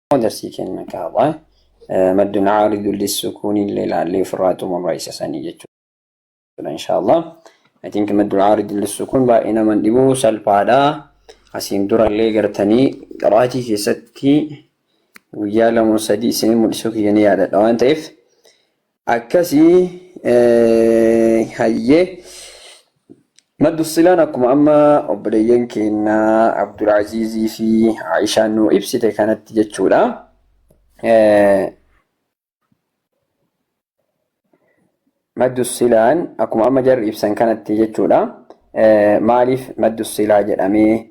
darsii keenya kaabaa maddu na'aaridu lissukuuni illee ilaallee ofirraa xumurra isa sanii jechuudha inshaallah I think maddu na'aaridu lissukuun baay'ee nama hin dhibu salphaadha asiin dura illee gartanii qaraatii keessatti guyyaa lama sadii isin mul'isuu kiyya ni yaadadha waan ta'eef Akkasi hayyee maddu silaan akkuma amma obboleeyyan keenya Abdulaaziizii fi Aishaan nuu ibsite kanatti jechuudha. Maddu silaan akkuma amma jarri ibsan kanatti jechuudha. Maaliif maddu silaa jedhamee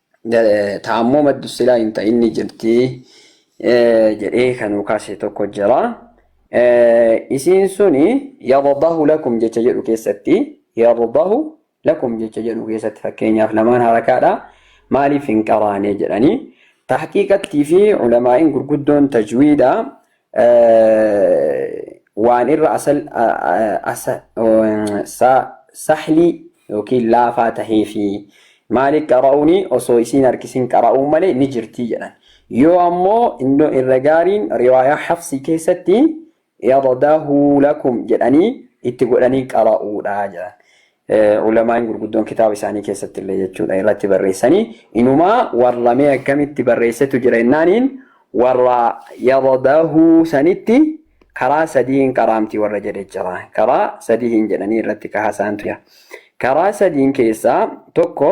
Taammoo maddu silaa hin ta'in ni jirti jedhee kan nuu kaase tokko jira. Isiin suni yardahu lakum jecha jedhu keessatti yardahu lakum jecha jedhu keessatti fakkeenyaaf lamaan harakaadha maaliif hin qaraane jedhanii tahqiiqattii fi ulamaa'iin gurguddoon tajwiidha waan irra asal asa sa sahli yookiin laafaa tahee fi maaliif qara'uuni osoo isiin harkisin qara'uun malee ni jirtii jedhan. Yoo ammoo iddoo irra gaariin riwaayaa hafsii keessatti yadadahu lakum jedhanii itti godhanii qara'uudha jedhan. Ulamaa'in gurguddoon kitaaba isaanii keessatti illee jechuudha irratti barreessanii inumaa warra mee akkamitti barreessetu jira jennaaniin warra yadadahu sanitti karaa sadiin qaraamti warra jedhe jira karaa sadiin jedhanii irratti kahasaantu jira karaa sadiin keessaa tokko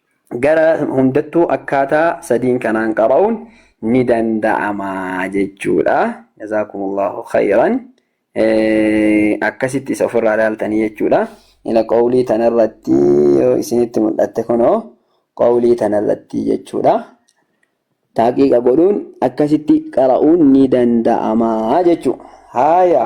gara hundattuu akkaataa sadiin kanaan qara'uun ni danda'ama jechuudha. Jazaakumullahu khayran. Akkasitti isa ofirraa ilaaltanii jechuudha. Ila qawlii tanarratti yoo isinitti mul'atte kunoo qawlii tanarratti jechuudha. Taaqiiqa godhuun akkasitti qara'uun ni danda'ama jechuudha. Haaya.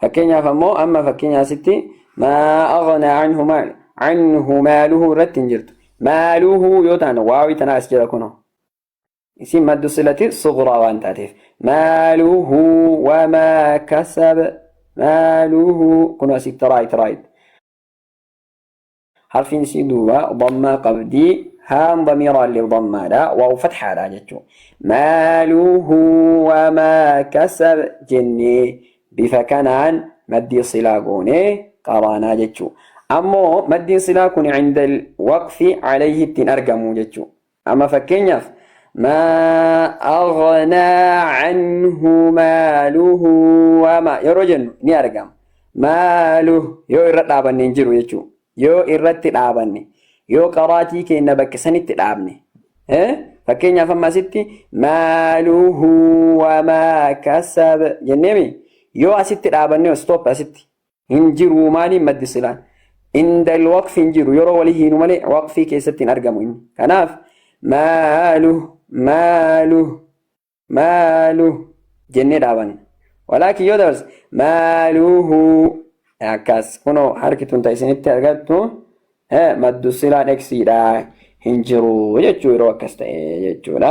Fakkeenyaaf ammoo amma fakkeenya asitti maa aghnaa anhu maal anhu maaluhu irratti hin jirtu. Maaluhu yoo taane waawii tanaa as jira kunoo. Isin maddu silati suguraa waan taateef. Maaluhu wamaa kasab maaluhu kunoo asitti raayit raayit. Harfiin isii duuba dhammaa qabdi. Haan damiiraa illee dhammaadha. Waaw fathaadha jechuudha. Maaluhu wamaa kasab jennee bifa kanaan maddii silaa goonee qaraanaa jechuudha. Ammoo maddiin silaa kun inda waqfi alayhi ittiin argamu jechuudha. Amma fakkeenyaaf maa aghnaa anhu maaluhu wama yeroo jennu ni argama. Maaluhu yoo irra dhaabanne hin jiru jechuudha. Yoo irratti dhaabanne yoo qaraatii keenya bakka sanitti dhaabne. Fakkeenyaaf amma asitti maaluhu wamaa kasab jenneemi yoo asitti dhaabanne stop asitti hin jiru maaliin maddi silaan inda waqfi hin jiru yeroo walii hiinu malee waqfii keessatti hin argamu inni kanaaf maalu maalu maalu jennee dhaabanna walaakin yoo dabarse maaluhu akkas kunoo harki tun ta isinitti argattu maddu silaan eksiidha hin jiru jechuu yeroo akkas ta'e jechuudha.